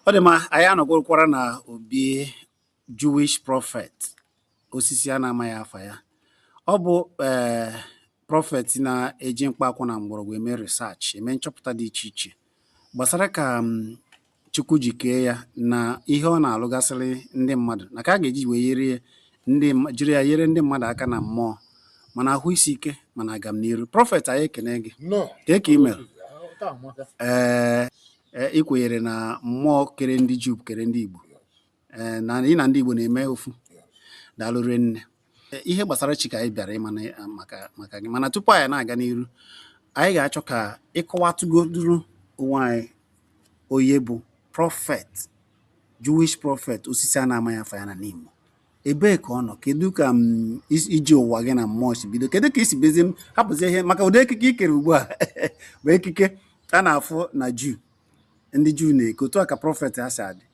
ọ dị mma anyị anọgwụrụkwara na obi Jewish prọfet osisi a na-amaghị afa ya ọ bụ ee eh, prọfet na-eji mkpa akwụkwọ na mgbọrọgwụ eme research eme nchọpụta dị iche iche gbasara ka mm, Chukwu ji kee ya na ihe ọ na-alụgasịrị ndị mmadụ na ka a ga-eji wee jiri ya yere ndị mmadụ aka na mmụọ ma na ahụ isi ike ma na agamniru prọfet anyị ekene gị kee ka i mere ee eh, Ee, ị kwenyere na mmụọ kere ndị Juu kere ndị Igbo ee na ị na ndị Igbo na-eme ofu daalụ rinne Ee, ihe gbasara chi ka anyị bịara ịma na- maka maka gị mana tupu anyị na-aga n'iru anyị ga-achọ ka ị kọwatụgoduru onwe anyị onye bụ prọfet Jewish prọfet osisi a na-amaghị afa ya na Nimo ebee ka ọ nọ kedu ka m mm, ije ụwa gị na mmụọ si bido kedu ka i si bezi m hapụzi ihe maka ụdị ekike i kere ugbu a bụ ekike a na-afụ na juu ndị juu na-eke otu a ka prọfet ha si adị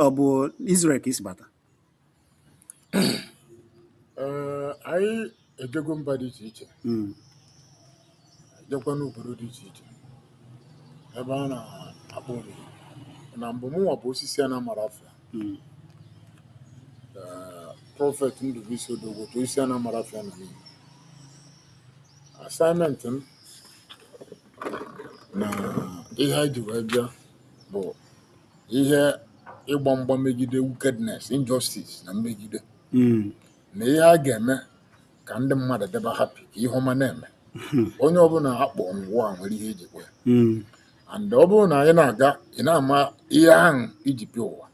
ọ bụ Israel ka i si bata eh, ejego mba dị iche iche mm. ejekwa n'obodo dị iche iche ebe a na-akpọ omimi na mbụ mụnwa bụ osisi a na-amarọ afa ya mm. prọfet Ndubuisi Odogwu otu osisi a na-amarọ afa ya na Nimo assignment m na ihe anyị ji wee bịa bụ ihe ịgba mgba megide wickedness injustice na mmegide mm. na ihe a ga-eme ka ndị mmadụ dịba happy ka ihe ọma na-eme hmm. onye ọbụla akpọ n'ụwa nwere ihe e ji kwa ya hmm. and ọ bụrụ na anyị na-aga ị na-ama ihe ahụ i ji bịa ụwa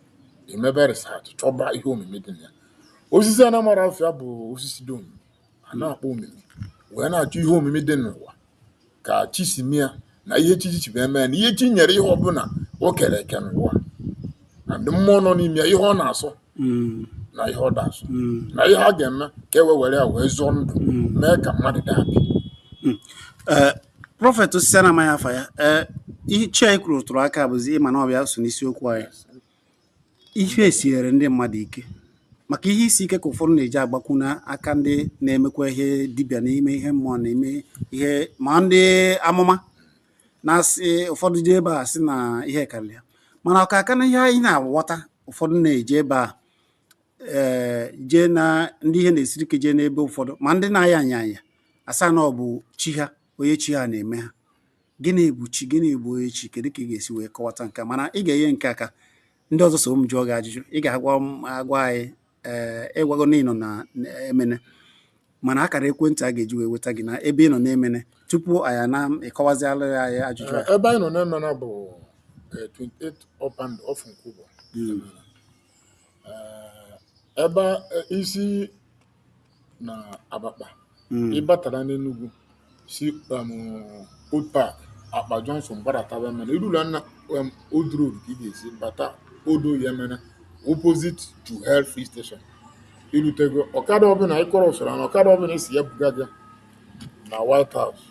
emebe research chọba ihe omimi dị na ya osisi a na-amarọ afa ya bụ osisi dị omimi a na-akpọ omimi wee na-achọ ihe omimi dị n'ụwa ka chi si mee ya na ihe chi si mee mee na ihe chi nyere ihe ọbụla o kere eke n'ụwa na ndị mmụọ nọ n'ime ya ihe ọ na-asọ Mm. na ihe ọ da-asọ Mm. na ihe a ga-eme ka e wee were ya wee zọọ ndụ mee ka mmadụ dị happy Ee, prọfet osisi a na-amaghị afa ya ee ihe chi anyị kwuru tụrụ aka bụzi ịma na ọ bịa so n'isiokwu anyị Ihe esiere ndị mmadụ ike maka ihe isi ike ka ụfọdụ na-eji agbakwu n'aka ndị na-emekwa ihe dibịa na-eme ihe mmụọ na-eme ihe ma ndị amụma na-asị ụfọdụ jee ebe a sị na ihe karịrị ha mana ọ ka aka na ihe anyị na-aghọta ụfọdụ na-eje ebe a eh, jee na ndị ihe na-esiri ike jee n'ebe ụfọdụ ma ndị na-aya anya anya asị na ọ bụ chi ha onye chi ha na-eme ha gịnị bụ chi gịnị bụ onye chi kedu ka ị ga-esi wee kọwata nke mana ị ga-enye nke aka ndị ọzọ so m jụọ gị ajụjụ ị ga-agwa agwa anyị ee eh, ị gwago na ị nọ na Emene mana akara ekwentị a ga-eji wee weta gị na ebe ị nọ na Emene tupu anyị na ị kọwaziala anyị ajụjụ eh, ebe anyị nọ na Emene bụ 28 eh, up and off Nkwubor hmm. ebe i si na Abakpa ị batara n'Enugu si um, Abakpa Junction gbadataba Emene i rula na um, Old Road ka ị ga-esi bata Old Oye Emene opposite Total Filling Station i rutego ọkada ọbụla ị kọrọ usoro na ọkada ọbụla ị sị ya buga gị na White House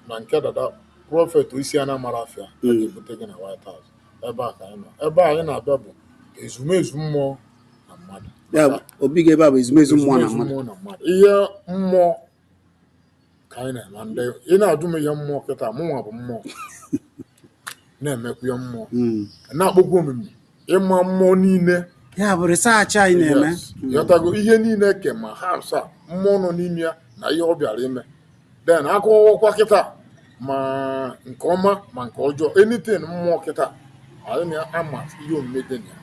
na nke dada prophet osisi a na-amara afịa a ga-ebute gị na White House ebe a ka anyị nọ ebe anyị na-abịa bụ ezumezu mmụọ na mmadụ ya bụ, obi gị ebe a bụ ezumezu mmụọ na mmadụ na mmadụ ihe mmụọ ka anyị na-eme ndị ị na-ajụ m ihe mmụọ kịta mụnwa bụ mmụọ na-emekwu ihe mmụọ Mm. na-akpọkwu omimi ịma mmụọ niile ya bụ research anyị na-eme Yes. ghọtago ihe niile ke ma ha asaa mmụọ nọ n'ime ya na ihe ọ bịara ime then a kọwakwa kịta ma nke ọma ma nke ọjọọ anything mmụọ kịta anyị na-ama ihe omume dị na ya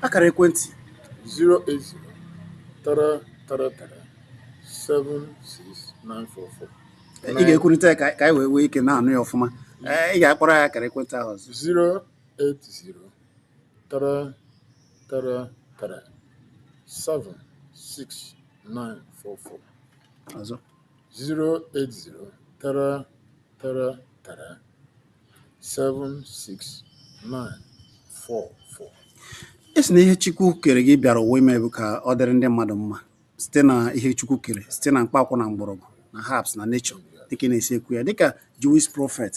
akara ekwentị 08033376944 ị ga-ekwulite ya ka ka anyị wee nwee ike na-anụ ya ọfụma Ee, ị ga-akpọrọ anyị akara ekwentị ahụ ọzọ 08033376944 ọzọ 08033376944 ị sị na ihe chukwu kere gị bịara ụwa ime bụ ka ọ dịrị ndị mmadụ mma site na ihe chukwu kere site na mkpaakwụkwọ na mgbọrọgwụ na herbs na nature dịka ị na-esi ekwu ya dịka Jewish prophet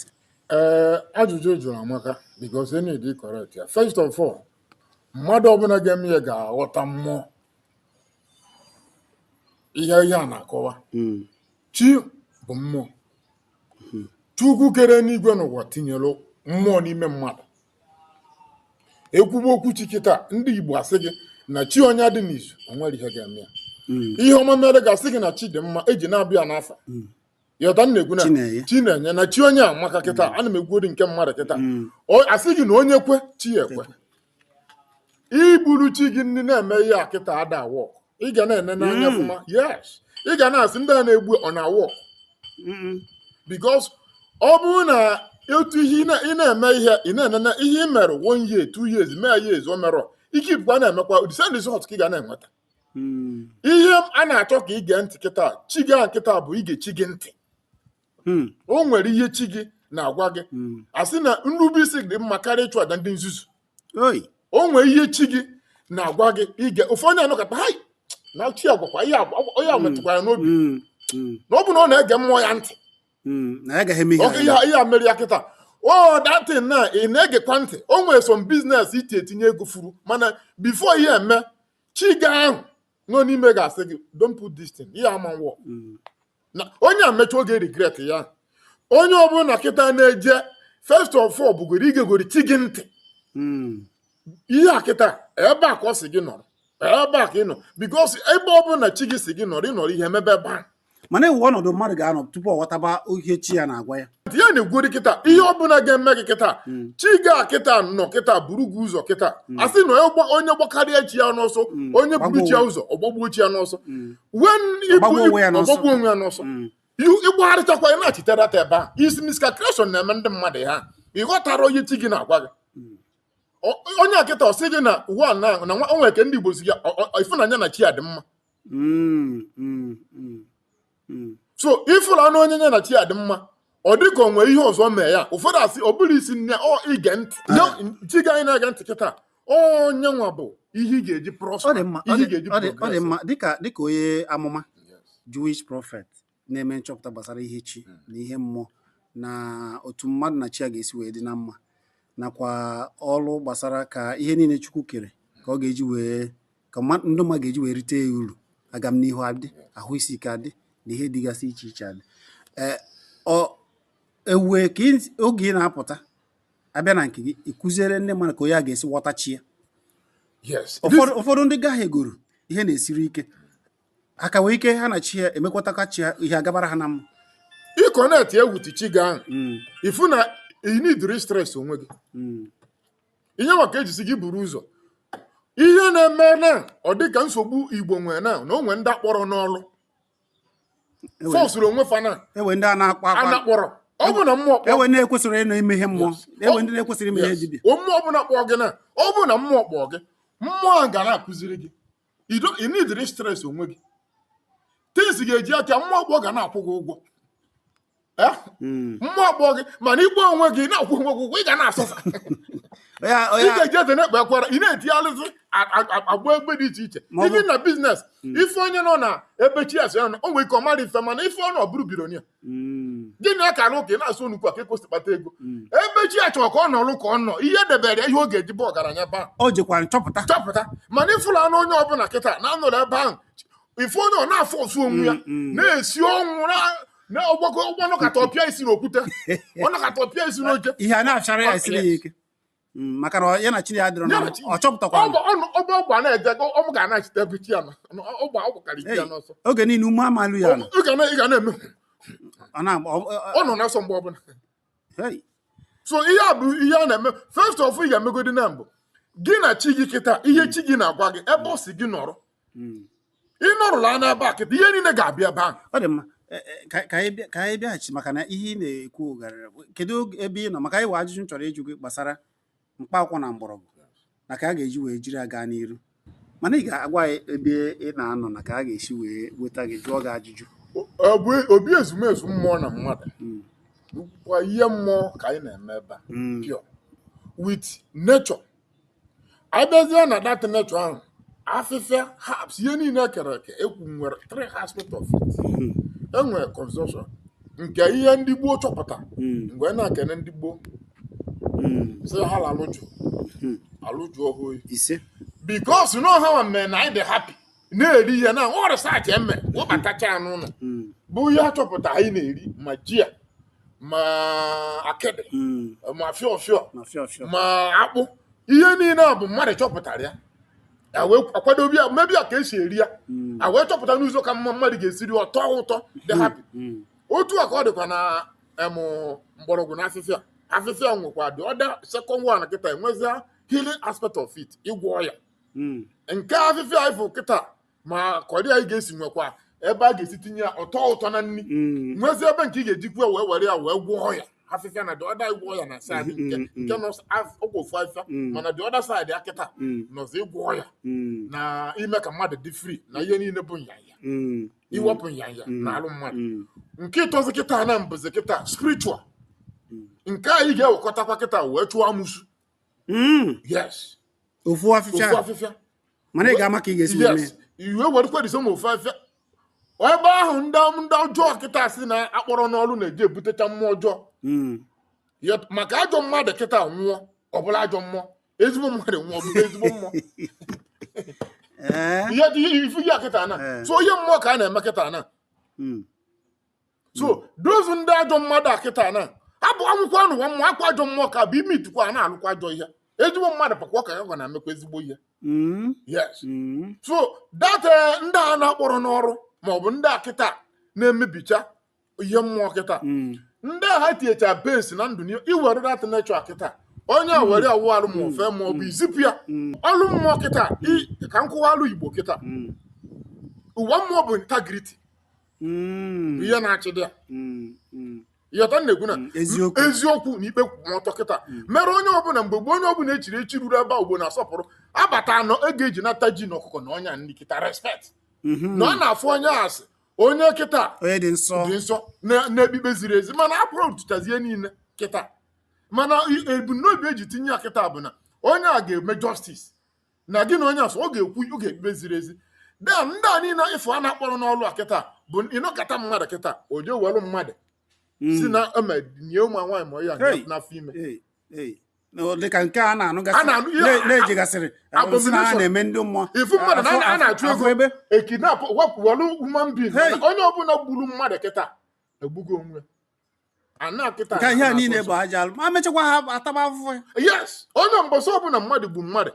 ee ajụjụ ị jụrụ amaka because you need to correct ya first of all mmadụ ọbụla ga-eme ya ga-aghọta mmụọ ihe ihe a na-akọwa mm. chi bụ mmụọ mm-hmm. chukwu kere enuigwe na ụwa tinyere mmụọ n'ime mmadụ e kwuba okwu chi kịta ndị Igbo asị gị na chi onye dị n'izu o nwere ihe ga-eme ya mm. ihe ọma mere ga-asị gị na chi dị mma e ji na-abịa n'afa mm. ị ghọta m na-ekwu na Chinenye. chinenye na chi onye amaka kịta ana m ekwugodị nke mmadụ kịta Mm. O- asị gị na onye kwe chi ya ekwe i buru chi gị ndị na-eme ihe a kịta ada awork ị ga na-ene n'anya Mm. ọfụma yes ị ga na-asị ndị a na-egbu ọ na-awork Mm-mm. because ọ bụrụ na otu ihe ị na- ị na-eme ihe ị na-enene ihe ị mere one year two years mee years o merọ ike i bukwa na-emekwa the same result ka ị ga na-enweta hmm. ihe a na-achọ ka ige ntị kịta chi gị ahụ kịta bụ ige chi gị ntị hmm. o nwere ihe chi gị na-agwa gị hmm. a sị na nrube isi dị mma karịa ịchụ aja ndị nzuzu o nwere ihe chi gị na-agwa gị ige ụfọdụ anọkọta ha na chi agwakwa ihe metụkwara n'obi na ọ bụ na ọ na-ege mmụọ ya ntị hmm, na ya agaghị eme ihe ihe a mere ya kịta o oh, datin na ị na-egekwa ntị o nwere som biznes iti etinye ego furu mana bifo ihe eme chi gị ahụ nọ n'ime gị asị gị don't put this thing ihe ama nwụọ hmm. na onye a mecha ọ ga-eregret ya onye ọbụla kịta na-eje first of all bụgoro igegori chi gị ntị hmm. ihe a kịta ebe a ka ọ sị gị nọrọ ebe a ka ị nọ bikos ebe ọ bụla chi gị sị gị nọrọ ị nọrọ ihe emebe ebe ahụ mana enwe ọnọdụ mmadụ ga-anọ tupu ọ ghọtaba ihe chi ya na-agwa ya ya na-egwuri kịta ihe ọ bụla ga-eme gị kịta hmm. chi gị a kịta nọ kịta buru gị ụzọ kịta hmm. asị na onye gbakarịa chi ya n'ọsọ hmm. onye buru chi ya ụzọ ọ gbagbuo chi ya n'ọsọ wen ọ gbagbuo onwe ya n'ọsọ ịgbagharịchakwa ị na-achitere ata ebe a isi miscalculation na-eme ndị mmadụ ha ịghọtara ihe chi gị na-agwa gị onye akịta ọ sị gị na ụwa na na nwa o nwe nke ndị Igbo sị ya ịfụ onye ya na chi ya dị mma mm, mm, mm, so ifụla na onye ya na chi ya dị mma ọ dị ka o nwe ihe ọzọ mee ya ụfọdụ asị ọ bụrụ isi nne ọ ige ntị chi gị anyị na-ege ntị kịta onye nwa bụ ihe ị ga-eji prọspa ihe ị ga-eji dịka dịka onye amụma Jewish prophet na-eme nchọpụta gbasara ihe chi hmm. na ihe mmụọ na otu mmadụ na chi ya ga-esi wee dị na mma nakwa ọrụ gbasara ka ihe niile Chukwu kere ka ọ ga-eji wee ka ndị mmadụ ga-eji wee rite ya uru agamnihu adị ahụ isi ike adị na ihe dịgasị iche iche adị eh, ewue ka oge ị na-apụta abịa na nke gị ịkụziere ndị mmadụ ka onye a ga-esi ghọta chi ya ụfọdụ ndị gaghị egoro ihe na-esiri ike ha ka nwee ike ha na chi ya emekwataka chi ya ihe agabara ha na mma ị connect with chi gị ahụ Mm, ifu na ị needirọ stress onwe gị mm, ihe maka ejisi gị buru ụzọ ihe na-eme na ọ dị ka nsogbu igbo nwere na na o nwee ndị akpọrọ n'ọlụ Ewe- fọsụrụ onwe fa na enwe ndị a na-akpa akwa a na-akpọrọ ọ bụ na mmụọ kpọọ enwe ndị na-ekwesịrị ịnọ ime ihe mmụọ enwe ndị na-ekwesịrị ime ihe dibịa mmụọ ọbụla kpọọ gị na ọ bụ na mmụọ kpọọ gị mmụọ ahụ ga na-akụziri gị Ị needirọ stress onwe gị. Things ga-eji aka mmụọ kpọọ ga na-akwụ gị ụgwọ. Eh? Mm. Mmụọ kpọọ gị mana ị kpọọ onwe gị na-akwụ onwe gị ụgwọ ị ga na-asọsa. Onye a- Ị onye a- ga-eji eze na-ekpe ekwere ị na-etigharịzị a- a- a- aga ebe dị iche iche. Ma ọ bụ- Even na biznes ịfụ onye nọ na ebe chi ya sị ya nọ o nwere ike ọ marọ ife mana ife ọ nọ ọ bụrụ billionaire. Mm. gịnị ọ ka n'ụka ị na-asụ onukwu a ka ekwesị kpata ego Mm. ebe chi ya chọrọ ka ọ nọrụ ka ọ nọ ihe debere ya ihe ọ ga-eji bụ ọgaranya baa o jekwa nchọpụta chọpụta mana ịfụla anụ onye ọbụla kịta na-anọrọ ebe ahụ ife onye ọ na-afụ ọsụ onwe ya Mm, mm. na-esi ọnwụ na- na ọgbakọ ụgbọ nọkata ọ pịa isi n'okwute ọ nọkata ọ pịa isi n'oche ihe a na-achara ya esiri ya ike Mm, maka na ya na chi ya adịrọ na ọ chọpụtakwa ọgba ọgba na-eje ọmụ ga na-achịta ebe chi ya na ọ gba ọ gbakarị chi ya n'ọsọ oge niile ume amalụ ya ị ga na-eme ọ nọ n'ọsọ mgbe ọbụla so ihe a bụ ihe a na-eme first of ị ga-emegodi na mbụ gị na chi gị kịta ihe chi gị na-agwa gị ebe ọ sị gị nọrọ hmm. ị nọrụla n'ebe a kedu ihe niile ga-abịa ebe ahụ ọ dị mma e, e, ka anyị bịaghachi maka na ihe ị na-ekwu garịrị kedu ebe ị nọ maka anyị nwee ajụjụ m chọrọ ịjụ gị gbasara mkpa akwụkwọ na mgbọrọgwụ na ka a ga-eji wee jiri aga n'iru mana ị ga-agwa anyị ebe ị na-anọ na ka a ga-esi wee weta gị jụọ gị ajụjụ obi ezumezu mmụọ na mmadụ hmm. bụkwa ihe mmụọ ka anyị na-eme ebe a hmm. pure with nature anyị bịazie na that nature ahụ afịfịa herbs ihe niile ekere eke ekwu nwere three aspect of it Hmm. enwere consumption nke ihe ndị gboo chọpụta Hmm. m wee na-ekene ndị gboo Hmm. sị ha lalụ jụụ Hmm. alụ jụọ oyi ise because na ọ ha mere na anyị dị happy na-eri ihe na ọ research eme webatacha ya n'ụlọ mm, bụ ihe a chọpụta anyị na-eri ma ji a ma akịdị mm, ma fịọfịọ ma fịọfịọ ma akpụ ihe niile a bụ mmadụ chọpụtara ya a wee kwadobe ya mebe ya ka esi eri ya Mm, a wee chọpụta n'ụzọ ka mma mmadụ ga-esi ri ọ tọ ụtọ dị happy mm, otu a ka ọ dịkwa na em, mgbọrọgwụ na afịfịa afịfịa nwekwa the other second one kịta enwezia healing aspect of it ịgwọ ọya hmm. nke afịfịa anyị fụ kịta ma curry anyị ga-esi nwekwa ebe a ga-esi tinye ya ọ tọ ụtọ na nri hmm. nwezie ebe nke ị ga-ejikwa wee were ya wee gwọọ ọya afịfịa na the other ịgwọ ọya na side nke hmm, nke nọ ọgwụ ofu afịfịa mana the other side a kịta nọzi ịgwọ ọya na ime ka mmadụ dị free na ihe niile bụ nyanya iwepụ nyanya n'alụ mmadụ nke ịtọzi kịta na-abụzi kịta spiritual nke anyị ga-ewekọtakwa kịta wee chụọ amụsu Mm. yes ofu ofu afịfịa afịfịa mana ị ga-ama ka ị ga-esi wee mee yes ị wee werekwa this same ofu afịfịa ebe ahụ ndị ndị ọjọọ kịta si na-akpọrọ n'ọrụ na-eji ebutecha mmụọ ọjọọ Mm. Ya- maka ajọ mmadụ kịta nwụọ ọ bụlụ ajọ mmụọ ezigbo mmadụ nwụọ ọ bụlụ ezigbo mmụọ Ee. ihe ị fụ ya kịta na Eh. so ihe mmụọ ka a na-eme kịta na Mm. so those ndị ajọ mmadụ a kịta na abụ anwụkwaa n'ụwa mmụọ akwa ajọ mmụọ ka bụ ime itukwa a na-alụkwa ajọ ihe ezigbo mmadụ pakwa ka gwa na-emekwa ezigbo ihe mm. yes mm. so that eh, ndị a na-akpọrọ n'ọrụ ma ọ bụ ndị a kịta na-emebicha ihe mmụọ kịta mm. ndị a ha tinyecha bens na ndụ iwere that nature kịta onye a were awụ alụ ma ofe ma ọ bụ izipụ ya ọlụ mmụọ kịta ka m kọwaalụ igbo kịta ụwa mmụọ bụ integrity ihe na-achị dị ya ị ghọta m na-ekwu na mm, eziokwu na ikpe kwụ ọtọ kịta mm. mere onye ọbụla mgbe gboo onye ọbụla echiri echi ruru ebe Igbo na-asọpụrụ abata anọ a ga-eji nata ji na ọkụkọ na ọnya nri kịta respect mm-hmm. na ọ na-afụ onye a sị onye kịta dị nsọ na-ekpe ikpe ziri ezi mana a corruptụchazie niile kịta mana ebumnobi eji tinye ya kịta bụ na onye a ga-eme justice na gị na onye ọsọ ọ ga-ekwu ọ ga-ekpe ziri ezi then ndị a niile ị fụ a na-akpọrọ n'ọlụ a kịta bụ ị nọkata mmadụ kịta o jee welụ mmadụ si na eme nye ụmụ nwaanyị ma ya Hey. n'afọ ime Hey, hey. Na ọ dịka nke a na-anụgasị A na-anụ ihe na- a- na-ejigasịrị abomination. na ha na-eme ndị mmụọ ị fụ mmadụ na a na-achụ afọ ego ebe e kidnap wepụ welụ human being Hey. onye ọbụla gburu mmadụ kịta egbugo onwe ka ihe a niile bụ aja alụ ma mechakwa ha ataba afụfụ yes onye mbọsị ọbụla mmadụ gbu mmadụ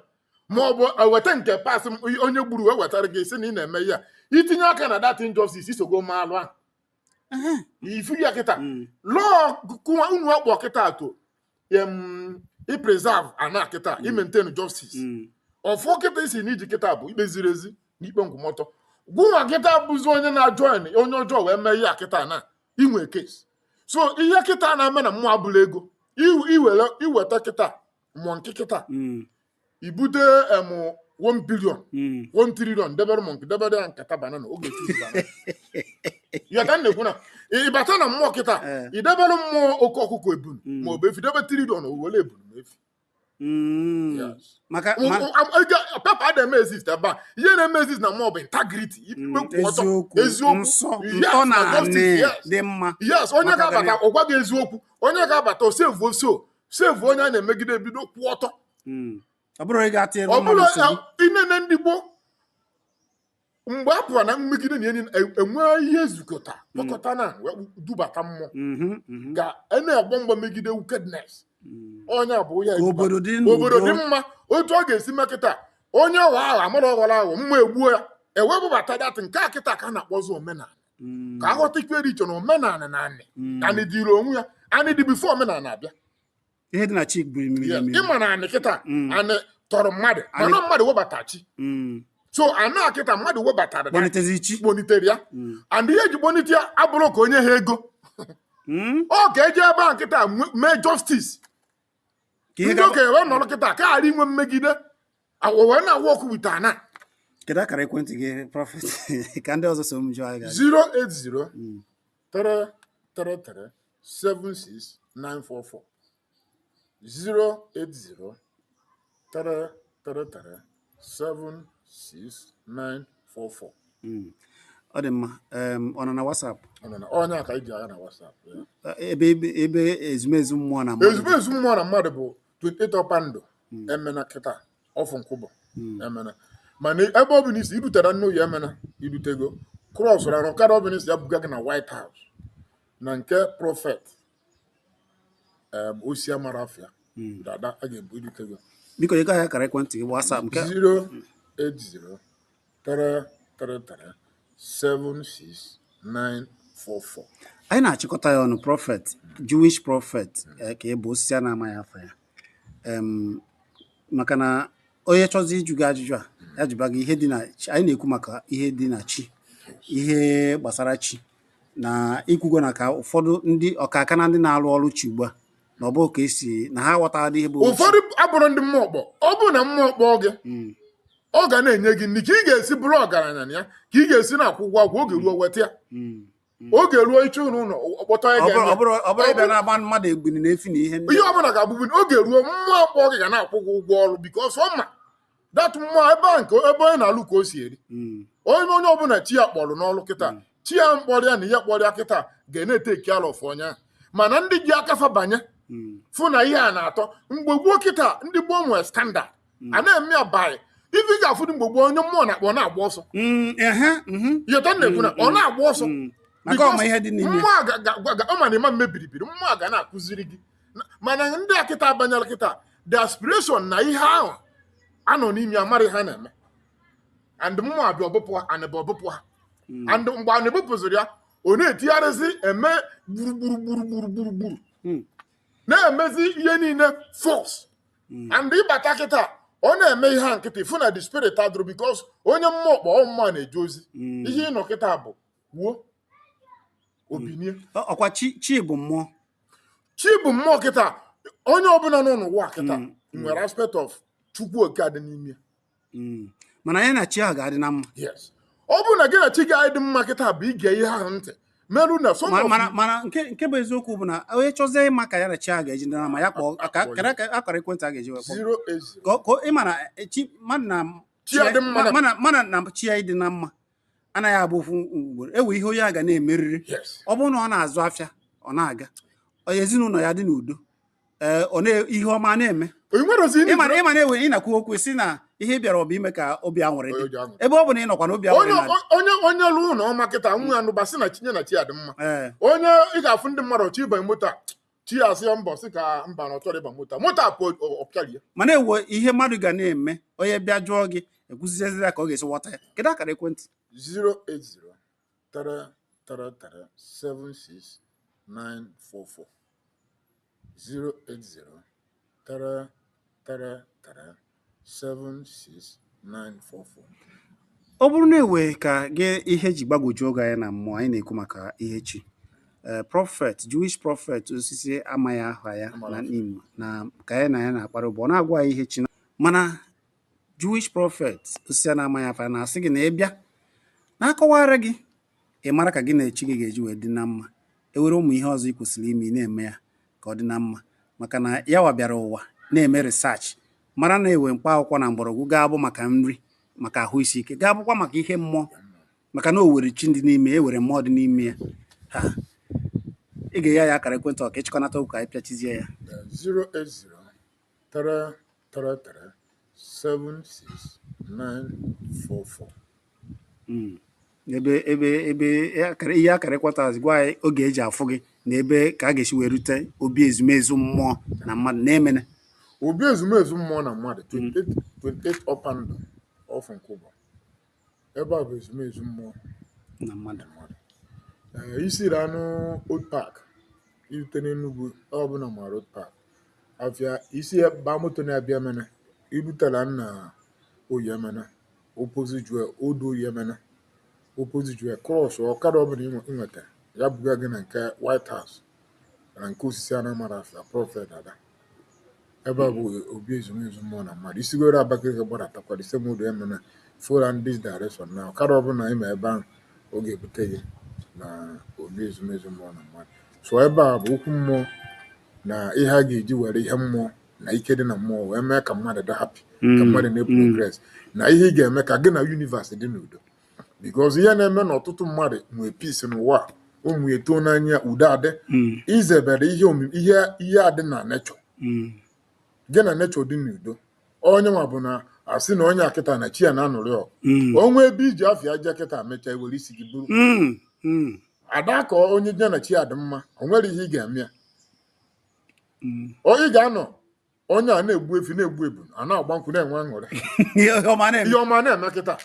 ma ọ bụ eweta nke pas onye gburu wee wetara gị isi na ị na-eme ya i tinye aka na that injustice i sogo mee alụ ahụ ị fụ ya kịta hmm. lụọ unu ọkpọ kịta to um, i preserve ana kịta i maintain justice Mm. ọfọ kịta ị sị na i ji kịta bụ ikpe ziri ezi na ikpe nkwụmọtọ gụnwa kịta bụzi onye na-ajoin onye ọjọọ wee mee ihe a kịta na i nwe case so ihe kịta na-eme na mmụọ abụla ego Iw- iwere iweta kịta monkey kịta Mm. i bute em one billion Mm. one trillion debere monkey debere ya nkata banana ọ ga-echoose banana ya ka m na-ekwu na ị bata na mmụọ kịta Eh. ị debere mmụọ oke ọkụkọ ebunu Mm. ma ọ bụ efi debe trillion o were ebunu na efi Mm. Yes. maka ma- paper ada eme exist ebe a ihe na-eme exist na mmụọ bụ integrity Mm, ikpe kwụ ọtọ eziokwu eziokwu nsọ Yes, ntọ na na justice, anị yes. dị mma yes onye Maka ga-abata gịnị? ọ gwa gị eziokwu onye ga-abata o save oso save onye a na-emegide ebido kwụ ọtọ Mm. ọ bụrụ ịga atị ọ bụrụ ya i nene ndị gboo mgbe a fụrụ na mmegide na enyi enwee ihe zukọta kpọkọta na wee dubata mmụọ ka a na-agba mgba megide wickedness onye a bụ onye Ka obodo dị n'udo. obodo dị mma otu ọ ga-esi mee kịta onye ọghọ ahụ amara ọghọrọ ahụ mma egbuo ya e wee bubata that nke a kịta ka a na-akpọzi omenala ka aghọtakwa ihe dị iche na omenala na anị mm. anị dịrị onwe ya anị dị before omenala abịa ihe dị na chi bụ ịma na anị kịta mm. anị tọrọ mmadụ mana mmadụ webata chi mm. so anị a kịta mmadụ webatara kponitere ya and ihe eji kponite ya abụrụ ka onye ha ego ọ ka eji ebe a nkịta mee justice ndị okenye wee nọrọ kịta ka a ghara inwe mmegide awọ wee na-awọ ọkụ with ana kedu akara ekwentị gị prophet ka ndị ọzọ so m jụọ anyị ga-ajụ. 080 Mm. 333 76944 080 333 76944 Mm. ọ dị mma Em, ọ nọ na WhatsApp Ọ nọ na- onye a ka anyị ji agha na WhatsApp ya. Eh, ebe ebe- ebe ezumezu mmụọ na mmadụ dị. ezumezu mmụọ na mmadụ bụ 28 ọkpandụ hmm. Emene kịta off Nkwubor hmm. Emene mana ebe ọbụla i si i rutere nne oyi Emene i rutego cross rara ọkada ọbụla ị sị ya buga gị na White House na nke prophet osisi amarọ afa ya hmm. dada a ga-ebu i rutego biko ị gaghị akara ekwentị gị WhatsApp nke 080 3337694 anyị na-achịkọta ya ọnụ prophet Jewish prophet eh, ka ị bụ osisi a na-amaghị afa ya maka na onye chọzi ịjụ gị ajụjụ a ya jụba gị ihe dị na chi anyị na-ekwu maka ihe dị na chi ihe gbasara chi na i kwugo na ka ụfọdụ ndị ọkaka na ndị na-arụ ọrụ chi ugbu a na ọ bụ ka esi na ha aghọtara ihe bụ ụfọdụ abụrụ ndị mmụọ kpọ ọ bụ na mmụọ kpọọ gị hmm. ọ ga na-enye gị nri ka ị ga-esi bụrụ ọgaranya na ya ka ị ga-esi na-akwụ ụgwọ agwụ oge ruo weta ya oge ruo iche ụlọ ụlọ ọkpọtọ ya Ọ bụrụ- ga-eme ọ bụrụ- ọ bụrụ ịbịa na-agba mmadụ ebini na efi na ihe ndị ihe ọ bụla ga-abụbu na oge ruo mmụọ kpọọ gị ga na-akwụ gị ụgwọ ọrụ because ọ ma that mmụọ ebe a nke ebe onye na-alụ ka o si eri Mm. onye onye ọbụla chi ya kpọrọ n'ọrụ kịta chi ya kpọrọ ya na ihe kpọrọ ya kịta ga na-etake care of onye a mana ndị ji aka fa banye Mm. fụ na ihe a na-atọ mgbe gboo kịta ndị gboo nwere standard Mm. a na-eme ya by ife ị ga-afụ dị mgbe gboo onye mmụọ na-akpọ ọ na-agba ọsọ Mm, ehe, mhm. ị ghọta na-ekwu na ọ na-agba ọsọ Mm. maka ọ ma ihe dị n'ime mmụọ a ga- ga- ga- ga- ọ ma na ịma mmebiribiri mmụọ a ga na-akụziri gị Na- mana ndị a kịta abanyela kịta the aspiration na ihe ahụ ha nọ n'ime ya amarọ ihe ha na-eme and mmụọ abịa o bupụ ha anị abịa o bupụ ha and mgbe a na-ebupụziri ya ọ na-etigharịzi eme gburugburu gburugburu gburugburu Mm. na-emezi ihe niile fọs hmm. and ị bata kịta ọ na-eme ihe a nkịta ị fụ na the spirit adịrọ because onye mmụọ kpọ ọ mmụọ na-eje ozi hmm. ihe ịnọ kịta bụ wuo obinie ọkwa chi bụ mmụọ chi bụ mmụọ kịta onye ọbụla nọ n'ụwa kịta nwere aspect of chukwu nke dị n'ime hmm. mana anyị na chi ahụ ga-adị na mma ọ bụrụ na gị na chi gị adị mma kịta bụ ige ihe ahụ ntị merụ na so mana mana nke nke bụ eziokwu bụ na onye chọzie ịma ka ya na chi ahụ ga-eji dị na mma ya kpọọ ka akara ekwentị a ga-eji wee kpọọ ka ịma na e, chi mmadụ na mmadụ na chi ya ịdị na mma anaghị abụ ofu ugboro ewe ihe onye a ga na-emerịrị ọ bụrụ na ọ na-azụ afịa ọ na-aga ezinụlọ ya dị n'udo ee eh, ihe ọma na-eme ịma na ewe ị na-akwu okwu sị na ihe ị bịara ọ bụ ime ka obi aṅụrị dị ebe ọ bụ na ị nọkwa na obi aṅụrị onye onye lụ ụlọ ọma kịta nwa ya nụba sị na chinye na chi ya dị mma eh. onye ị ga-afụ ndị mmadụ ọ chọọ ịbanye moto a chi ya asị ya mbọ si ka mba na ọ chọrọ ịba moto moto a pụọ ọ pịara ya mana ewe ihe mmadụ ga na-eme onye bịa jụọ gị ekwuzizie ya ka ọ ga-esi ghọta ya kedu akara ekwentị 080 333 76944 080 333 76944 ọ bụrụ na ewe ka gị ihe ji gbagwojuo gị anya na mmụọ anyị na-ekwu maka ihe chi ee prọfet jewish prọfet osisi amaghị aha ya na n'imo na ka anyị na ya na-akpara ụbọ ọ na-agwa anyị ihe chi na- mana Jewish prophet osisi a na-amaghị afa na-asị gị na ị bịa na-akọwara gị ị mara ka gị na chi gị ga-eji wee dị na mma ewere ụmụ ihe ọzọ ị kwesịrị ime ị na-eme ya ka ọ dị na mma maka na ya wa bịara ụwa na-eme research mara na ewe mkpa akwụkwọ na mgbọrọgwụ ga-abụ maka nri maka ahụ isi ike ga-abụkwa maka ihe mmụọ maka na o were chi dị n'ime ya ewere mmụọ dị n'ime ya ha ị ga-enye ya akara ekwentị ka ị chịkọnata okwu ka anyị pịachizie ya 080 333 76944 Mm. ebe ebe ebe ihe akara- ihe akarịkwata azụ gwa anyị oge eji afụ gị na ebe ka a ga-esi wee rute obi ezumezu mmụọ na mmadụ na Emene obi ezumezu mmụọ na mmadụ 28 28 ọpa ndụ off Nkwụbọ ebe a bụ ezumezu mmụọ na mmadụ ee i siri na old park i rute n'Enugwu ọ bụ na ị mara old park afịa isi ba moto na-abịa Emene i rutela na Oye Emene opposite Juhel old Oye Emene opposite Juhel cross ọkada ọbụla ị nwetara ya buga gị na nke white house na nke osisi a na-amarọ afa na prọfet ada ebe a bụ obi ezumezu mmụọ na mmadụ i sigoro Abakaliki gbadatakwa the same old Emene follow this direction na ọkada ọbụla ma ebe ahụ ọ ga-ebute gị na obi ezumezu mmụọ na mmadụ so ebe a bụ okwu mmụọ na ihe a ga-eji were ihe mmụọ na ike dị na mmụọ wee mee ka mmadụ dị happy ka mmadụ na-progress na ihe ị ga-eme ka gị na universe dị n'udo because ihe na-eme na ọtụtụ mmadụ nwee peace n'ụwa a, ụmụ ya eto n'anya udo adị Mm, i zebere ihe omi- ihe ihe adị na nature mm, gị na nature dị n'udo onye nwa bụ na a sị na onye a kịta na chi ya na-anụrị ọgụ mm, o nwee ebe i ji afịa aja kịta mechaa i were isi gị buru mm, mm, ada ka onye ya na chi ya dị mma o nwere ihe ị ga-eme ya mm. onye ga-anọ onye a na-egbu efi na-egbu ebu a na-agba nkwụ na-enwe aṅụrị ihe ọma na-eme ihe ọma na-eme kịta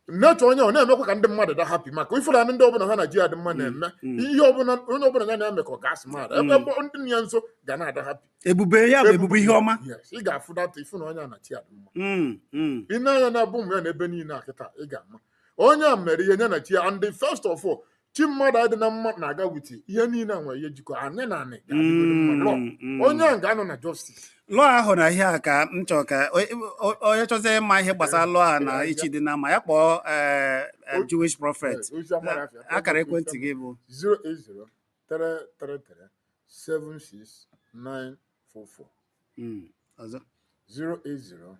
nature onye ọ na-emekwa ka ndị mmadụ dị happy maka ị fụla ndị ọbụla ha na chi adị mma na-eme mm. ihe ọbụla onye ọbụla ya na-eme ka ọ ga-asị mmadụ ebe mm. ebe ndị nọ ya nso ga na-adị happy ebube ya bụ ebube ihe ọma Yes, ị ga-afụ data ị fụ na onye a na chi adị mma Mm, mm. i nee anya na-abụ ụmụ ya na ebe niile a kịta ị ga-ama onye a mere ihe nye na chi ya and the first of all chi mmadụ adị na mma na-aga with ihe niile a nwere ihe jikọ anyị na anị ga-adịgoro mma law Mm, mm. onye ahụ ga-anọ na justice law ahụ na ihe a ka m chọrọ ka o- o- onye chọzie ịma ihe gbasara law a na ihe chi dị na mma ya kpọọ eh, eh, Jewish prophet osisi amarọ afa ya akara ekwentị gị bụ 08033376944 mm, ọzọ 08033376944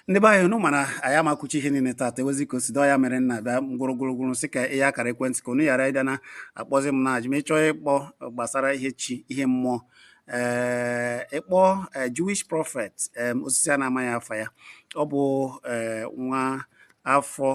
ndị be anyị unu ma na anyị ama kwucha ihe niile taata ewezi ka o si dị ọ ya mere nna bịa gwụrụgwụrụgwụrụ sị ka ihe akara ekwentị ka unu ghara ịbịa na-akpọzi m na-ajụ m ị chọọ ịkpọ gbasara ihe chi ihe mmụọ ee eh, ịkpọ eh, Jewish prophet osisi a na-amaghị afa ya ọ bụ eh, nwa afọ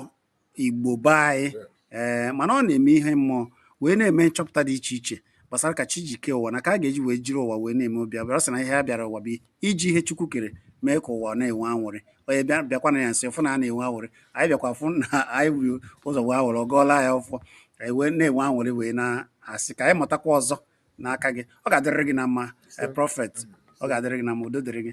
Igbo be anyị ee mana ọ na-eme ihe mmụọ wee na-eme nchọpụta dị iche iche gbasara ka chi ji kee ụwa na ka a ga-eji wee jiri ụwa wee na-eme obi abịa ọ sị na ihe a bịara ụwa bụ iji ihe Chukwu kere mee ka ụwa na-enwe anwụrị onye bịa bịakwana ya nsị fụ na a na-enwe anwụrị anyị bịakwa fụ na anyị wuru ụzọ wee anwụrị ọ gọọla ya ọfọ anyị wee na-enwe anwụrị wee na-asị ka anyị mụtakwa ọzọ n'aka gị ọ ga-adịrịrị gị na mma prophet ọ ga-adịrị gị na mma udo dịrị gị